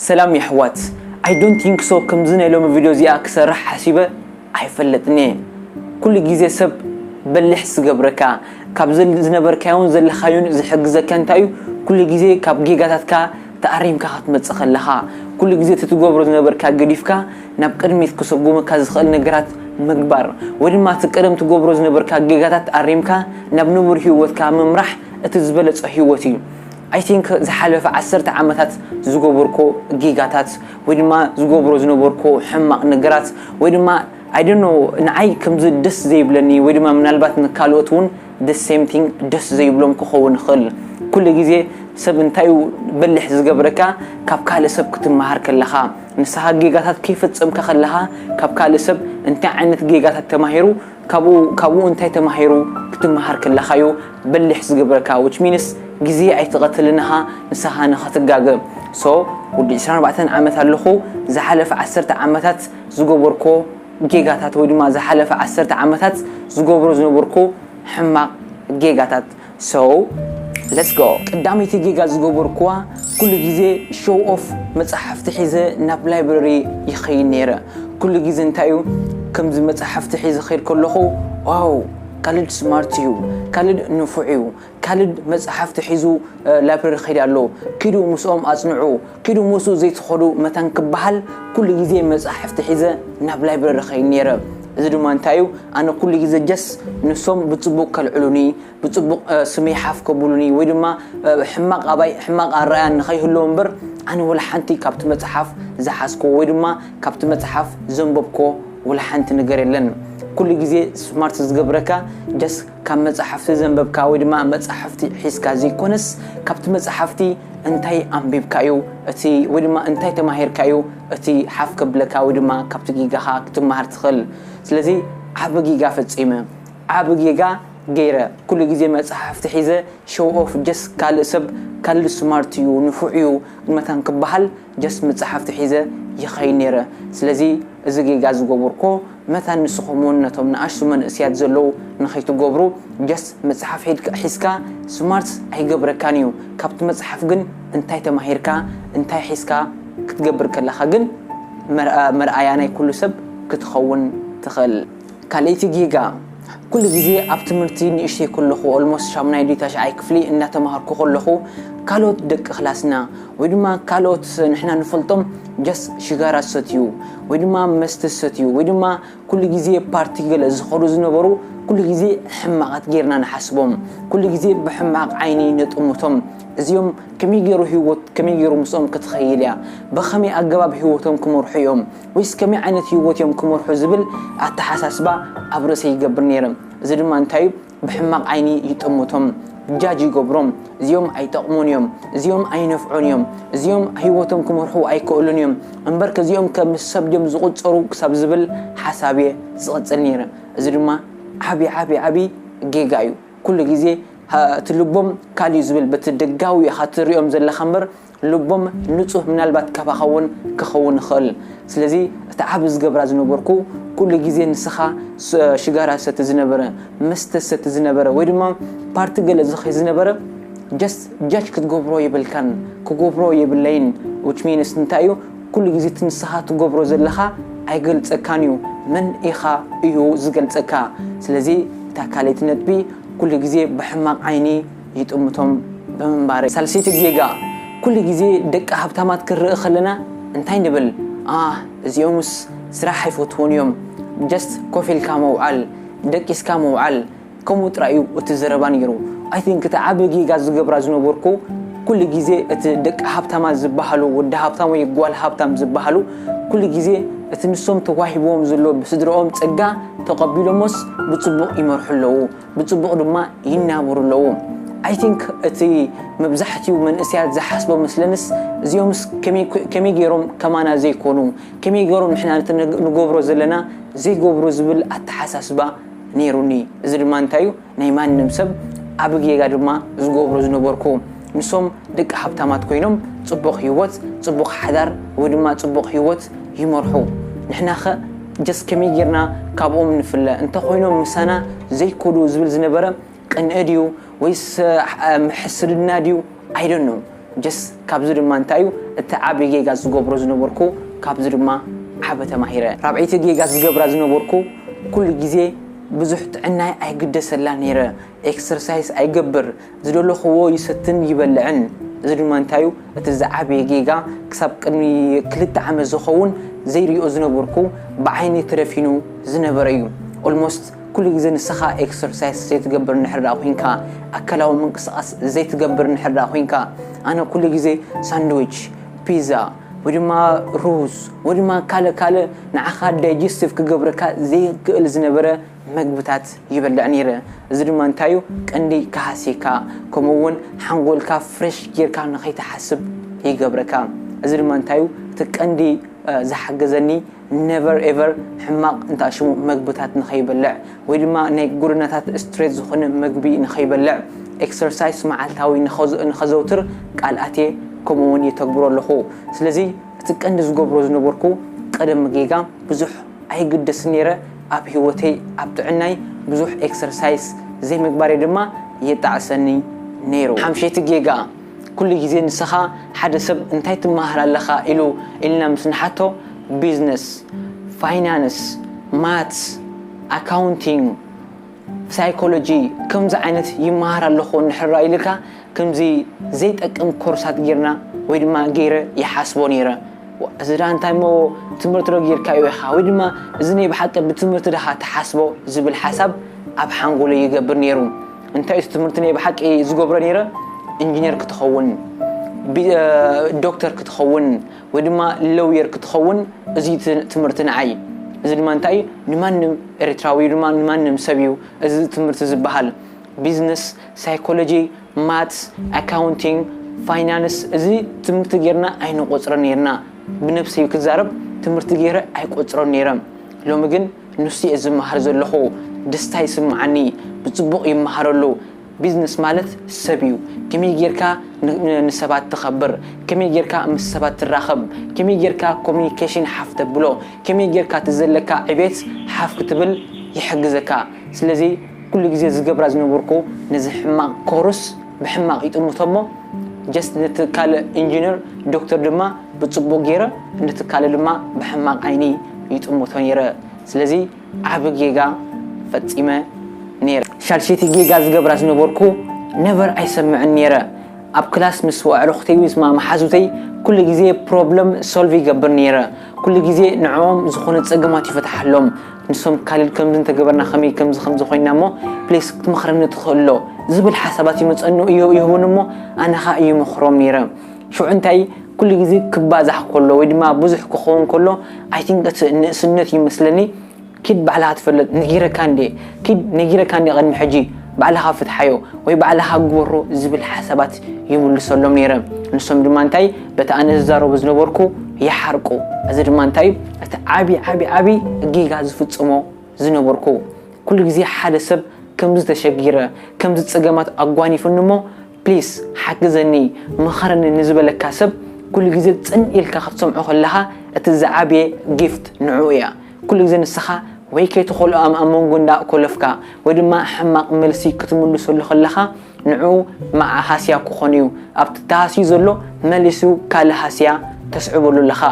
ሰላም የሕዋት ኣይ ዶንት ቲንክ ሶ ከምዚ ናይ ሎሚ ቪድዮ እዚኣ ክሰርሕ ሓሲበ ኣይፈልጥን እየ ኩሉ ግዜ ሰብ በሊሕ ዝገብረካ ካብ ዝነበርካዮን ዘለካዮን ዝሕግዘካ እንታይ እዩ ኩሉ ግዜ ካብ ጌጋታትካ ተኣሪምካ ክትመጽእ ከለካ ኩሉ ግዜ እቲ ትገብሮ ዝነበርካ ገዲፍካ ናብ ቅድሚት ክሰጉመካ ዝክእል ነገራት ምግባር ወይ ድማ እቲ ቀደም ትገብሮ ዝነበርካ ጌጋታት ኣሪምካ ናብ ንቡር ሂወትካ ምምራሕ እቲ ዝበለጸ ሂወት እዩ I think ዝሓለፈ ዓሰርተ ዓመታት ዝገበርኩ ጌጋታት ወይ ድማ ዝገብሮ ዝነበርኩ ሕማቕ ነገራት ወይ ድማ I don't know ንዓይ ከምዚ ደስ ዘይብለኒ ወይ ድማ ምናልባት ንካልኦት ውን the same thing ደስ ዘይብሎም ክኸውን ይኽእል ኩሉ ግዜ ሰብ እንታይ ዩ በሊሕ ዝገብረካ ካብ ካልእ ሰብ ክትመሃር ከለኻ ንስኻ ጌጋታት ከይፈጸምካ ከለኻ ካብ ካልእ ሰብ እንታይ ዓይነት ጌጋታት ተማሂሩ ካብኡ ካብኡ እንታይ ተማሂሩ ክትማሃር ከለኻዩ በሊሕ ዝገብረካ which means ግዜ ኣይትቀትል ንሃ ንሳኻ ንኸትጋገ so ወዲ ዕስራን ኣርባዕተን ዓመት ኣለኹ ዝሓለፈ ዓሰርተ ዓመታት ዝገበርኩዎ ጌጋታት ወይ ድማ ዝሓለፈ ዓሰርተ ዓመታት ዝገብሮ ዝነበርኩ ሕማቅ ጌጋታት So let's go ቀዳመይቲ ጌጋ ዝገበርኩዋ ኩሉ ግዜ show off መጻሕፍቲ ሒዘ ናብ library ይኸይድ ኔረ ኩሉ ግዜ እንታይ እዩ ከምዚ መጻሕፍቲ ሒዘ ክኸይድ ከለኹ ዋው ካልድ smart እዩ ካልድ ንፉዕ እዩ ካልድ መጻሕፍቲ ሒዙ library ይኸይድ ኣሎ ኪዱ ምስኦም ኣጽንዑ ኪዱ ምስኡ ዘይትኸዱ መታን ክበሃል ኩሉ ግዜ መጻሕፍቲ ሒዘ ናብ ላይብረሪ እኸይድ ነይረ። እዚ ድማ እንታይ እዩ ኣነ ኩሉ ግዜ ጀስ ንሶም ብጽቡቕ ከልዕሉኒ ብጽቡቕ ስመይ ሓፍ ከብሉኒ ወይ ድማ ሕማቕ ኣባይ ሕማቕ ኣረኣእያ ንኸይህልዎ እምበር ኣነ ወላ ሓንቲ ካብቲ መጽሓፍ ዝሓዝክዎ ወይ ድማ ካብቲ መጽሓፍ ዘንበብክዎ ወላ ሓንቲ ነገር የለን። ኩሉ ግዜ ስማርት ዝገብረካ ጀስ ካብ መጻሕፍቲ ዘንበብካ ወይ ድማ መጻሕፍቲ ሒዝካ ዘይኮነስ ካብቲ መጻሕፍቲ እንታይ ኣንቢብካ እዩ እቲ ወይ ድማ እንታይ ተማሂርካ እዩ እቲ ሓፍ ከብለካ ወይ ድማ ካብቲ ጊጋኻ ክትማሃር ትኽእል ስለዚ ዓቢ ጊጋ ፈጺመ ዓቢ ጌጋ ገይረ ኩሉ ግዜ መጽሓፍቲ ሒዘ ሸው ኦፍ ጀስት ካልእ ሰብ ካልእ ስማርት እዩ ንፉዕ እዩ መታን ክበሃል ጀስት ምጻሕፍቲ ሒዘ ይኸይድ ኔረ ስለዚ እዚ ጌጋ ዝገቡርኩ መታን ንስኹም ውን ነቶም ንኣሽቱ መንእስያት ዘለዉ ንኸይትገብሩ ጀስት መጽሓፍ ሒድካ ሒዝካ ስማርት ኣይገብረካን ኢዩ ካብቲ መጽሓፍ ግን እንታይ ተማሂርካ እንታይ ሒዝካ ክትገብር ከለኻ ግን መርኣያ ናይ ኩሉ ሰብ ክትኸውን ትኽእል ካልኣይቲ ጌጋ ኩሉ ግዜ ኣብ ትምህርቲ ንእሽተይ ከለኹ ኦልሞስት ሻሙናይ ድዩ ታሽዓይ ክፍሊ እንዳተማሃርኩ ከለኹ ካልኦት ደቂ ክላስና ወይ ድማ ካልኦት ንሕና ንፈልጦም ጀስት ሽጋራ ዝሰትዩ ወይ ድማ መስተ ዝሰትዩ ወይ ድማ ኩሉ ግዜ ፓርቲ ገለ ዝኸዱ ዝነበሩ ኩሉ ግዜ ሕማቓት ጌርና ንሓስቦም ኩሉ ግዜ ብሕማቕ ዓይኒ ንጥምቶም እዚኦም ከመይ ገይሩ ህይወት ከመይ ገይሩ ምስኦም ክትኸይል እያ ብኸመይ ኣገባብ ህይወቶም ክመርሑ እዮም ወይስ ከመይ ዓይነት ህይወት እዮም ክመርሑ ዝብል ኣተሓሳስባ ኣብ ርእሰይ ይገብር ነይረ። እዚ ድማ እንታይ እዩ? ብሕማቕ ዓይኒ ይጥምቶም፣ ጃጅ ይገብሮም፣ እዚኦም ኣይጠቕሙን እዮም፣ እዚኦም ኣይነፍዑን እዮም፣ እዚኦም ህይወቶም ክመርሑ ኣይክእሉን እዮም፣ እምበርከ እዚኦም ከም ሰብ ድዮም ዝቑጸሩ ክሳብ ዝብል ሓሳብ እየ ዝቕጽል ነይረ። እዚ ድማ ዓቢ ዓቢ ዓቢ ጌጋ እዩ። ኩሉ ግዜ እቲ ልቦም ካልእ እዩ ዝብል፣ በቲ ደጋዊ ኢኻ ትርእዮም ዘለኻ እምበር፣ ልቦም ንጹህ ምናልባት ካባኻ እውን ክኸውን ይኽእል ስለዚ እቲ ዓቢ ዝገብራ ዝነበርኩ ኩሉ ግዜ ንስኻ ሽጋራ ዝሰቲ ዝነበረ መስተ ዝሰቲ ዝነበረ ወይ ድማ ፓርቲ ገለ ዝኸይ ዝነበረ ጀስት ጃጅ ክትገብሮ የብልካን ክገብሮ የብለይን which means እንታይ እዩ ኩሉ ግዜ እቲ ንስኻ ትገብሮ ዘለኻ ኣይገልጸካን እዩ መን ኢኻ እዩ ዝገልጸካ ስለዚ እታ ካልኣይቲ ነጥቢ ኩሉ ግዜ ብሕማቕ ዓይኒ ይጥምቶም ብምንባረይ። ሳልሰይቲ ጌጋ፣ ኩሉ ግዜ ደቂ ሃብታማት ክንርኢ ከለና እንታይ ንብል፣ ኣህ እዚኦምስ ስራሕ ኣይፈትዉን እዮም፣ just ኮፍ ኢልካ ምውዓል፣ ደቂስካ ምውዓል፣ ከምኡ ጥራይ እዩ እቲ ዘረባ ነይሩ። I think እቲ ዓቢ ጌጋ ዝገብራ ዝነበርኩ ኩሉ ግዜ እቲ ደቂ ሃብታማት ዝበሃሉ፣ ወዲ ሃብታም ወይ ጓል ሃብታም ዝበሃሉ ኩሉ ግዜ እቲ ንሶም ተዋሂብዎም ዘሎ ብስድርኦም ጸጋ ተቐቢሎሞስ ብጽቡቕ ይመርሑ ኣለዉ፣ ብጽቡቕ ድማ ይናብሩ ኣለዉ i think እቲ መብዛሕቲኡ መንእሰያት ዝሓስቦ መስለንስ እዚኦምስ ከመይ ከመይ ጌሮም ከማና ዘይኮኑ ከመይ ጌሮም ንሕና ነቲ ንገብሮ ዘለና ዘይገብሩ ዝብል ኣተሓሳስባ ኔሩኒ እዚ ድማ እንታይ እዩ ናይ ማንም ሰብ ዓቢ ጌጋ ድማ ዝገብሮ ዝነበርኩ ንሶም ደቂ ሃብታማት ኮይኖም ጽቡቕ ሂወት ጽቡቕ ሓዳር ወይ ድማ ጽቡቕ ሂወት ይመርሑ ንሕናኸ ጀስ ከመይ ጌርና ካብኦም ንፍለ እንተ ኮይኖም ምሳና ዘይኮዱ ዝብል ዝነበረ ቅንኢ ድዩ ወይስ ሕስድና ድዩ ኣይ ዶንት ኖው ጀስ ካብዚ ድማ እንታይ እዩ እቲ ዓቢ ጌጋ ዝገብሮ ዝነበርኩ ካብዚ ድማ ዓቢ ተማሂረ ራብዐይቲ ጌጋ ዝገብራ ዝነበርኩ ኩሉ ግዜ ብዙሕ ጥዕናይ ኣይግደሰላን ኔረ ኤክሰርሳይስ ኣይገብር፣ ዝደለኹዎ ይሰትን ይበልዕን። እዚ ድማ እንታይ እዩ እቲ ዝዓበየ ጌጋ ክሳብ ቅድሚ ክልተ ዓመት ዝኸውን ዘይሪኦ ዝነበርኩ ብዓይነይ ተደፊኑ ዝነበረ እዩ። Almost ኩሉ ግዜ ንስኻ ኤክሰርሳይስ ዘይትገብር እንድሕር ደኣ ኮይንካ ኣካላዊ ምንቅስቓስ ዘይትገብር እንድሕር ደኣ ኮይንካ ኣነ ኩሉ ግዜ ሳንድዊች፣ ፒዛ ወይ ድማ ሩዝ ወይ ድማ ካልእ ካልእ ንዓኻ ዳይጀስቲቭ ክገብረካ ዘይክእል ዝነበረ መግብታት ይበልዕ ነይረ እዚ ድማ እንታይ እዩ ቀንዲ ክሃስየካ ከምኡ እውን ሓንጎልካ ፍረሽ ጌርካ ንኸይትሓስብ ይገብረካ እዚ ድማ እንታይ እዩ እቲ ቀንዲ ዝሓገዘኒ never ever ሕማቕ እንታይ ሽሙ መግብታት ንኸይበልዕ ወይ ድማ ናይ ጎደናታት ስትሬት ዝኾነ መግቢ ንኸይበልዕ ኤክሰርሳይስ መዓልታዊ ንኸዘውትር ቃል ኣትየ ከምኡ እውን የተግብሮ ኣለኹ ስለዚ እቲ ቀንዲ ዝገብሮ ዝነበርኩ ቀደም ጌጋ ብዙሕ ኣይግደስን ኔረ ኣብ ሂወተይ ኣብ ጥዕናይ ብዙሕ ኤክሰርሳይስ ዘይምግባረይ ድማ የጣዕሰኒ ኔሩ። ሓምሸይቲ ጌጋ ኩሉ ግዜ ንስኻ ሓደ ሰብ እንታይ ትመሃር ኣለኻ ኢሉ ኢልና ምስ ንሓቶ ቢዝነስ ፋይናንስ ማትስ ኣካውንቲንግ፣ ሳይኮሎጂ ከምዚ ዓይነት ይመሃር ኣለኹ እንድሕር ርኣ ኢልካ ከምዚ ዘይጠቅም ኮርሳት ጌርና ወይ ድማ ጌረ ይሓስቦ ኔረ እዚ ድኣ እንታይ እሞ ትምህርቲ ዶ ጌርካዮ ኢኻ ወይ ድማ እዚ ናይ ብሓቂ ብትምህርቲ ድኻ ትሓስቦ ዝብል ሓሳብ ኣብ ሓንጎለይ ይገብር ኔሩ እንታይ እዩ ትምህርቲ ናይ ብሓቂ ዝገብሮ ኔረ ኢንጂነር ክትኸውን ዶክተር ክትኸውን ወይ ድማ ለውየር ክትኸውን እዚ ትምህርቲ ንዓይ እዚ ድማ እንታይ እዩ ንማንም ኤርትራዊ ድማ ንማንም ሰብ እዩ እዚ ትምህርቲ ዝበሃል ቢዝነስ ሳይኮሎጂ ማትስ ኣካውንቲንግ ፋይናንስ እዚ ትምህርቲ ጌርና ኣይንቆጽሮ ነይርና ብነብሰይ ክዛረብ ትምህርቲ ገይረ ኣይቆጽሮን ነይረ ሎሚ ግን ንሱ እየ ዝመሃር ዘለኹ ደስታ ይስምዓኒ ብጽቡቕ ይመሃረሉ ቢዝነስ ማለት ሰብ እዩ ከመይ ጌርካ ንሰባት ተኸብር ከመይ ጌርካ ምስ ሰባት ትራኸብ ከመይ ጌርካ ኮሙኒኬሽን ሓፍ ተብሎ ከመይ ጌርካ እቲ ዘለካ ዕቤት ሓፍ ክትብል ይሕግዘካ ስለዚ ኩሉ ግዜ ዝገብራ ዝነበርኩ ነዚ ሕማቕ ኮርስ ብሕማቕ ይጥምቶ እሞ ጀስት ነቲ ካልእ ኢንጂነር ዶክተር ድማ ብጽቡቕ ጌረ ነቲ ካልእ ድማ ብሕማቕ ዓይኒ ይጥምቶ ኔረ ስለዚ ዓቢ ጌጋ ፈጺመ ነይረ። ሻድሸይቲ ጌጋ ዝገብራ ዝነበርኩ ነበር ኣይሰምዕን ነይረ። ኣብ ክላስ ምስ ኣዕሩኽተይ ወይ ድማ መሓዙተይ ኩሉ ግዜ ፕሮብለም ሶልቭ ይገብር ነይረ። ኩሉ ግዜ ንዕኦም ዝኾነ ጸገማት ይፈትሓሎም። ንሶም ካሊድ ከምዚ እንተገበርና ከመይ ከምዚ ከምዚ ኮይና እሞ ፕሊስ ክትመኽረኒ ትኽእልዶ ዝብል ሓሳባት ይመጸኑ ይህቡኒ እሞ ኣነ ከኣ ይመኽሮም ነይረ። ሽዑ እንታይ ኩሉ ግዜ ክባዛሕ ከሎ ወይ ድማ ብዙሕ ክኸውን ከሎ ኣይ ቲንክ እቲ ንእስነት እዩ መስለኒ ኪድ ባዕልኻ ትፈለጥ ነጊረካ እንዴ ኪድ ነጊረካ እንዴ ቅድሚ ሕጂ ባዕልኻ ፍትሓዮ ወይ ባዕልኻ ግበሮ ዝብል ሓሳባት ይምልሰሎም ነይረ ንሶም ድማ እንታይ በቲ ኣነ ዝዛረቦ ዝነበርኩ ይሓርቁ እዚ ድማ እንታይ እቲ ዓብዪ ዓብዪ ዓብዪ ጌጋ ዝፍጽሞ ዝነበርኩ ኩሉ ግዜ ሓደ ሰብ ከምዚ ተሸጊረ ከምዚ ጸገማት ኣጓኒፉኒ እሞ Please ሓግዘኒ ምኸረኒ ንዝበለካ ሰብ ኩሉ ግዜ ጽን ኢልካ ክትሰምዖ ከለኻ እቲ ዝዓበየ Gift ንዕኡ እያ ኩሉ ግዜ ንስኻ ወይ ከይትኾልኦኣም ኣብ መንጎ እንዳ ኮለፍካ ወይ ድማ ሕማቕ መልሲ ክትምልሰሉ ከለኻ ንዕኡ መዓ ሃስያ ክኾን እዩ ኣብቲ ተሃስዩ ዘሎ መሊሱ ካልእ ሃስያ ተስዕበሉ ኣለኻ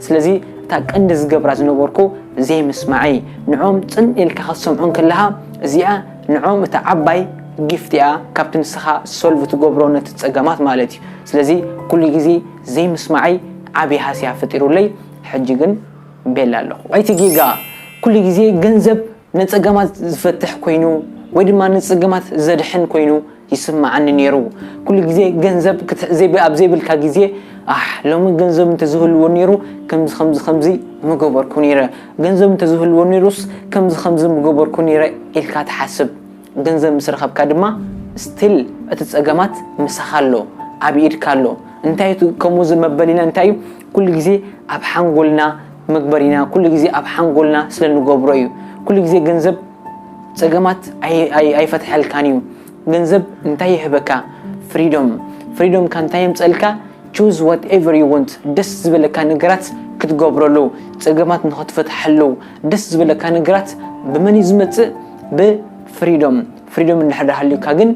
ስለዚ እታ ቀንዲ ዝገብራ ዝነበርኩ ዘይምስማዐይ ንዕኦም ጽን ኢልካ ክትሰምዖም ከለኻ እዚኣ ንዕኦም እታ ዓባይ ጊፍት እያ ካብቲ ንስኻ ሶልቭ ትገብሮ ነቲ ጸገማት ማለት እዩ ስለዚ ኩሉ ግዜ ዘይምስማዐይ ዓቢ ሃስያ ፈጢሩለይ ሕጂ ግን ቤላ ኣለኹ። ኣይቲ ጌጋ ኩሉ ግዜ ገንዘብ ነጸገማት ዝፈትሕ ኮይኑ ወይ ድማ ንጸገማት ዘድሕን ኮይኑ ይስማዓኒ ኔሩ ኩሉ ግዜ ገንዘብ ክትዕ ኣብ ዘይብልካ ግዜ ኣሕ ሎሚ ገንዘብ እንተዝህልዎ ኔሩ ከምዚ ከምዚ ከምዚ ምገበርኩ ኔረ ገንዘብ እንተዝህልዎ ኔሩስ ከምዚ ከምዚ ምገበርኩ ኔረ ኢልካ ትሓስብ ገንዘብ ምስ ረኸብካ ድማ ስቲል እቲ ጸገማት ምሳኻ ኣሎ ኣብ ኢድካ ኣሎ እንታይ እቲ ከምኡ ዝመበሊና እንታይ እዩ ኩሉ ግዜ ኣብ ሓንጎልና መግበሪና ኩሉ ግዜ ኣብ ሓንጎልና ስለ ንገብሮ እዩ ኩሉ ግዜ ገንዘብ ጸገማት ኣይፈትሐልካን እዩ ገንዘብ እንታይ ይህበካ ፍሪዶም ፍሪዶም ካ እንታይ የምጸልካ ቹዝ ዋት ኤቨር ዩ ወንት ደስ ዝበለካ ነገራት ክትገብረሉ ጸገማት ንኸትፈትሐሉ ደስ ዝበለካ ነገራት ብመን እዩ ዝመጽእ ብፍሪዶም ፍሪዶም እንድሕር ሃልዩካ ግን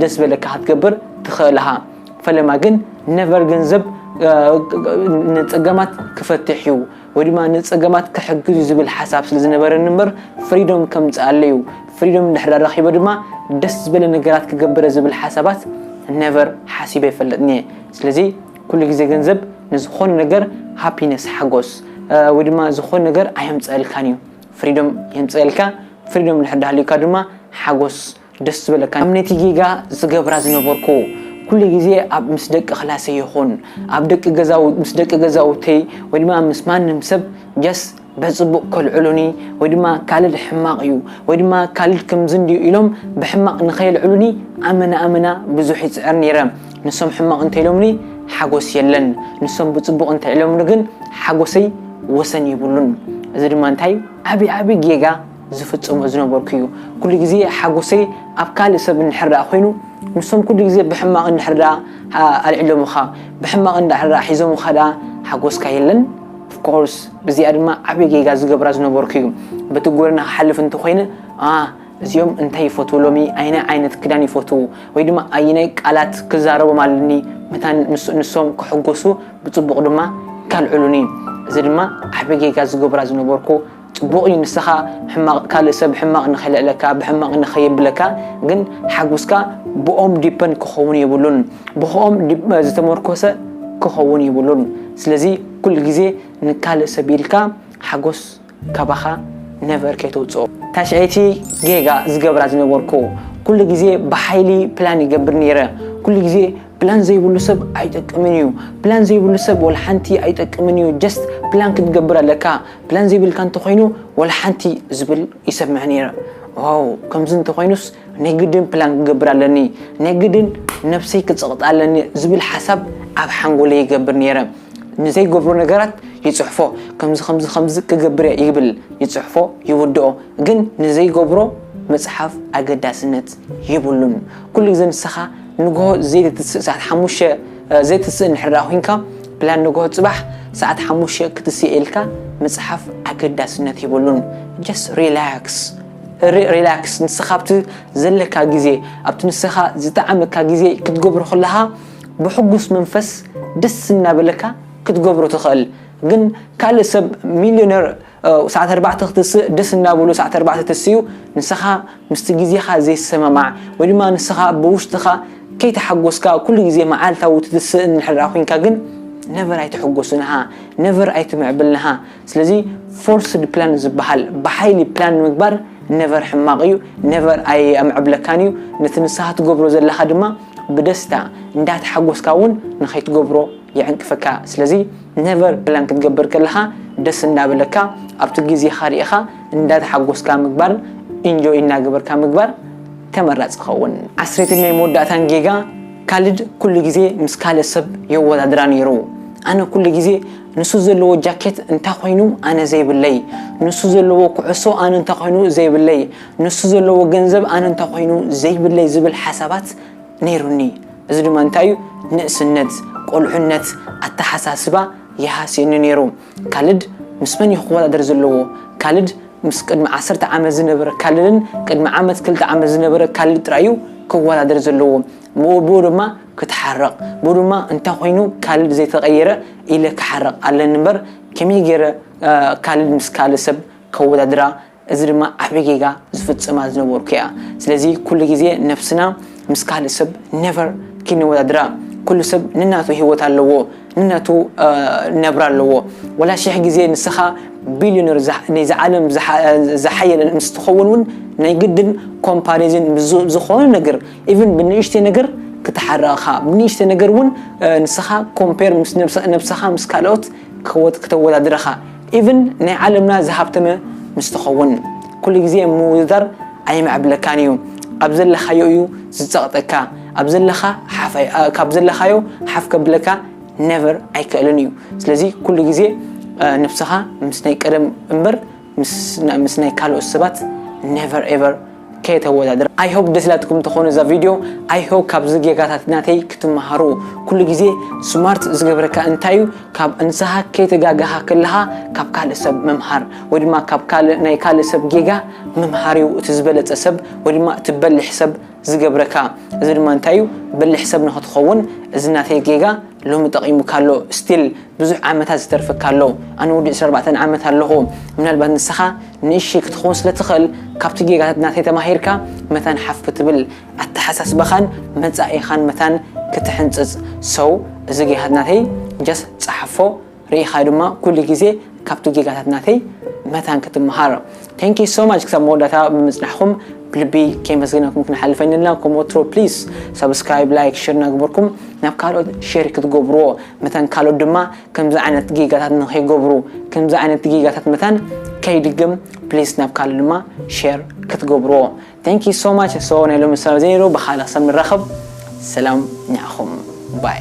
ደስ ዝበለካ ክትገብር ትኽእል ሃ ፈለማ ግን ነቨር ገንዘብ ንጸገማት ክፈትሕ እዩ ወይ ድማ ንጸገማት ክሕግዝ እዩ ዝብል ሓሳብ ስለ ዝነበረኒ እምበር ፍሪዶም ከምጽኣለይ እዩ፣ ፍሪዶም እንድሕር ኣረኪበ ድማ ደስ ዝበለ ነገራት ክገብር እየ ዝብል ሓሳባት ነቨር ሓሲበ ኣይፈልጥን እየ። ስለዚ ኩሉ ግዜ ገንዘብ ንዝኾነ ነገር ሃፒነስ ሓጎስ ወይ ድማ ዝኾነ ነገር ኣየምጽኣልካን እዩ፣ ፍሪዶም የምጽኣልካ፣ ፍሪዶም እንድሕር ዳሃልዩካ ድማ ሓጎስ ደስ ዝበለካ ከም ነቲ ጌጋ ዝገብራ ዝነበርኩ ኩሉ ግዜ ኣብ ምስ ደቂ ክላሰይ ይኹን ኣብ ደቂ ገዛውት ምስ ደቂ ገዛውተይ ወይ ድማ ምስ ማንም ሰብ ጀስ በጽቡቅ ከልዕሉኒ ወይ ድማ ካልድ ሕማቅ እዩ ወይ ድማ ካልድ ክምዚ እንድዩ ኢሎም ብሕማቅ ንከየልዕሉኒ ኣመና ኣመና ብዙሕ ይጽዕር ኔረ ንሶም ሕማቅ እንተኢሎምኒ ሓጎስ የለን ንሶም ብጽቡቅ እንተኢሎምኒ ግን ሓጎሰይ ወሰን የብሉን እዚ ድማ እንታይ ዓቢ ዓቢ ጌጋ ዝፍጽሞ ዝነበርኩ እዩ ኩሉ ግዜ ሓጎሰይ ኣብ ካልእ ሰብ እንድሕር ደኣ ኮይኑ ንሶም ኩሉ ግዜ ብሕማቕ እንድሕር ደኣ ኣልዒሎምኻ ብሕማቕ እንድሕር ደኣ ሒዞምኻ ደኣ ሓጎስካ የለን of course እዚኣ ድማ ዓቢ ጌጋ ዝገብራ ዝነበርኩ እዩ በቲ ጎደና ክሓልፍ እንተኾይነ a እዚኦም እንታይ ይፈትዉ ሎሚ ኣየናይ ዓይነት ክዳን ይፈትዉ ወይ ድማ ኣየናይ ቃላት ክዛረቦም ኣለኒ መታን ንሶም ክሕጎሱ ብጽቡቕ ድማ ካልዕሉኒ እዚ ድማ ዓቢ ጌጋ ዝገብራ ዝነበርኩ ጽቡቕ እዩ ንሰኻ ሕማቕ ካልእ ሰብ ሕማቕ ንኸልዕለካ ብሕማቕ ንኸየብለካ ግን ሓጉስካ ብኦም ዲፐንድ ክኸውን የብሉን ብኽኦም ዝተመርኮሰ ክኸውን የብሉን ስለዚ ኩሉ ግዜ ንካልእ ሰብ ኢልካ ሓጎስ ካባኻ ነቨር ከይተውጽኦ። ታሽዐይቲ ጌጋ ዝገብራ ዝነበርኩ ኩሉ ግዜ ብሓይሊ ፕላን ይገብር ነይረ ኩሉ ግዜ ፕላን ዘይብሉ ሰብ ኣይጠቅምን እዩ ፕላን ዘይብሉ ሰብ ወላ ሓንቲ ኣይጠቅምን እዩ ጀስት ፕላን ክትገብር ኣለካ ፕላን ዘይብልካ እንተኾይኑ ወላሓንቲ ዝብል ይሰምዕ ነይረ ዋው ከምዚ እንተኾይኑስ ናይ ግድን ፕላን ክገብር ኣለኒ ናይ ግድን ነብሰይ ክጽቕጥ ኣለኒ ዝብል ሓሳብ ኣብ ሓንጎለይ ይገብር ነይረ ንዘይገብሮ ነገራት ይጽሕፎ ከምዚ ከምዚ ከምዚ ክገብር እየ ይብል ይጽሕፎ ይውድኦ ግን ንዘይገብሮ ምጽሓፍ ኣገዳስነት የብሉን ኩሉ ግዜ ንስኻ ንግሆ ዘይትትስእ ሰዓት ሓሙሽተ ዘይትትስእ እንድሕር ኮይንካ ፕላን ንግሆ ፅባሕ ሰዓት ሓሙሽተ ክትስእ ኢልካ ምፅሓፍ ኣገዳስነት የብሉን ጀስት ሪላክስ ሪላክስ ንስኻ ኣብቲ ዘለካ ግዜ ኣብቲ ንስኻ ዝጠዓመካ ግዜ ክትገብሮ ከለኻ ብሕጉስ መንፈስ ደስ እናበለካ ክትገብሮ ትኽእል ግን ካልእ ሰብ ሚሊዮነር ሰዓት ኣርባዕተ ክትስእ ደስ እናበሎ ሰዓት ኣርባዕተ ተሲኡ ንስኻ ምስቲ ግዜኻ ዘይሰማማዕ ወይ ድማ ንስኻ ብውሽጥኻ ከይተሓጎስካ ኩሉ ግዜ መዓልታዊ ትትስእ እንድሕር ኮይንካ ግን ነቨር ኣይትሕጎስንሃ ነቨር ኣይትምዕብልንሃ ስለዚ ፎርስድ ፕላን ዝበሃል ብሓይሊ ፕላን ምግባር ነቨር ሕማቕ እዩ ነቨር ኣይምዕብለካን እዩ ነቲ ንስኻ ትገብሮ ዘለኻ ድማ ብደስታ እንዳተሓጎስካ እውን ንኸይትገብሮ ይዕንቅፈካ ስለዚ Never ፕላን ክትገብር ከለኻ ደስ እንዳበለካ ኣብቲ ግዜኻ ሪኢኻ እንዳተሓጎስካ ምግባር ኢንጆይ እናገበርካ ምግባር ተመራጺ ይኸውን። ዓስሪትን ናይ መወዳእታን ጌጋ፣ ካልድ ኩሉ ግዜ ምስ ካልእ ሰብ የወዳድራ ኔሩ። ኣነ ኩሉ ግዜ ንሱ ዘለዎ ጃኬት እንታይ ኮይኑ ኣነ ዘይብለይ፣ ንሱ ዘለዎ ኩዕሶ ኣነ እንታይ ኮይኑ ዘይብለይ፣ ንሱ ዘለዎ ገንዘብ ኣነ እንታይ ኮይኑ ዘይብለይ ዝብል ሓሳባት ነይሩኒ እዚ ድማ እንታይ እዩ ንእስነት ቆልዑነት ኣተሓሳስባ ይሃስየኒ ነይሩ ካልድ ምስ መን እዩ ክወዳደር ዘለዎ ካልድ ምስ ቅድሚ ዓሰርተ ዓመት ዝነበረ ካልድን ቅድሚ ዓመት ክልተ ዓመት ዝነበረ ካልድ ጥራይ እዩ ክወዳደር ዘለዎ ብኡ ድማ ክትሓረቕ ብኡ ድማ እንታይ ኮይኑ ካልድ ዘይተቐየረ ኢለ ክሓረቕ ኣለኒ እምበር ከመይ ገይረ ካልድ ምስ ካልእ ሰብ ከወዳድራ እዚ ድማ ዓቢ ጌጋ ዝፍጽማ ዝነበርኩ እያ ስለዚ ኩሉ ግዜ ነብስና ምስ ካልእ ሰብ never ኪነወዳድራ ኩሉ ሰብ ንናቱ ሂወት ኣለዎ ንናቱ ነብራ ኣለዎ ወላ ሽሕ ግዜ ንስኻ ቢልዮነር ናይዛ ዓለም ዝሓየለ ምስ ትኸውን ውን ናይ ግድን ኮምፓሪዝን ምስ ዝኾነ ነገር ኢቭን ብንእሽተይ ነገር ክትሓርቕ ኢኻ ብንእሽተይ ነገር ውን ንስኻ ኮምፔር ምስ ነብስኻ ምስ ካልኦት ክተወዳድር ኢኻ ኢቭን ናይ ዓለምና ዝሃብተመ ምስ ትኸውን ኩሉ ግዜ ምውድዳር ኣየማዕብለካን እዩ ኣብ ዘለኻዮ እዩ ዝጸቕጠካ ኣብ ዘለኻ ሓፍ ኣይ ካብ ዘለኻዮ ሓፍ ከብለካ never ኣይክእልን እዩ ስለዚ ኩሉ ግዜ ንብስኻ ምስ ናይ ቀደም እምበር ምስ ናይ ካልኦት ሰባት never ever ከየተወዳድራ። I hope ደስ ኢላትኩም ትኾኑ እዛ ቪድዮ I hope ካብዚ ጌጋታት ናተይ ክትመሃሩ ኩሉ ግዜ ስማርት ዝገብረካ እንታይ እዩ ካብ ንስኻ ከይተጋገኻ ከለኻ ካብ ካልእ ሰብ ምምሃር ወይ ድማ ካብ ካልእ ናይ ካልእ ሰብ ጌጋ ምምሃር እዩ እቲ ዝበለጸ ሰብ ወይ ድማ እቲ በሊሕ ሰብ ዝገብረካ እዚ ድማ እንታይ እዩ በሊሕ ሰብ ንኽትኸውን እዚ ናተይ ጌጋ ሎሚ ጠቒሙካ ኣሎ ስቲል ብዙሕ ዓመታት ዝተርፈካ ኣሎ ኣነ ወዲ ዕስራ ኣርባዕተ ዓመት ኣለኹ ምናልባት ንስኻ ንእሽተይ ክትኾን ስለ ትኽእል ካብቲ ጌጋታት ናተይ ተማሂርካ መታን ሓፍ ክትብል ኣተሓሳስባኻን መጻኢኻን መታን ክትሕንጽጽ so እዚ ጌጋታት ናተይ just ጸሓፎ ርኢኻዮ ድማ ኩሉ ግዜ ካብቲ ጌጋታት ናተይ መታን ክትመሃር thank you so much ክሳብ መወዳእታ ብምጽናሕኩም ብልቢ ከመስግነኩም ክንሓልፍ ኣይንልና ከም ወትሮ please subscribe like share እናገበርኩም ናብ ካልኦት share ክትገብርዎ መታን ካልኦት ድማ ከምዚ ዓይነት ጌጋታት ንከይገብሩ ከምዚ ዓይነት ጌጋታት መታን ከይድግም ፕሊስ ናብ ካልእ ድማ ሼር ክትገብርዎ thank you so much so ናይ ሎሚ ሰላም እዚ ነይሩ ብካልእ ክሳብ ንራኸብ ሰላም ንዓኹም ባይ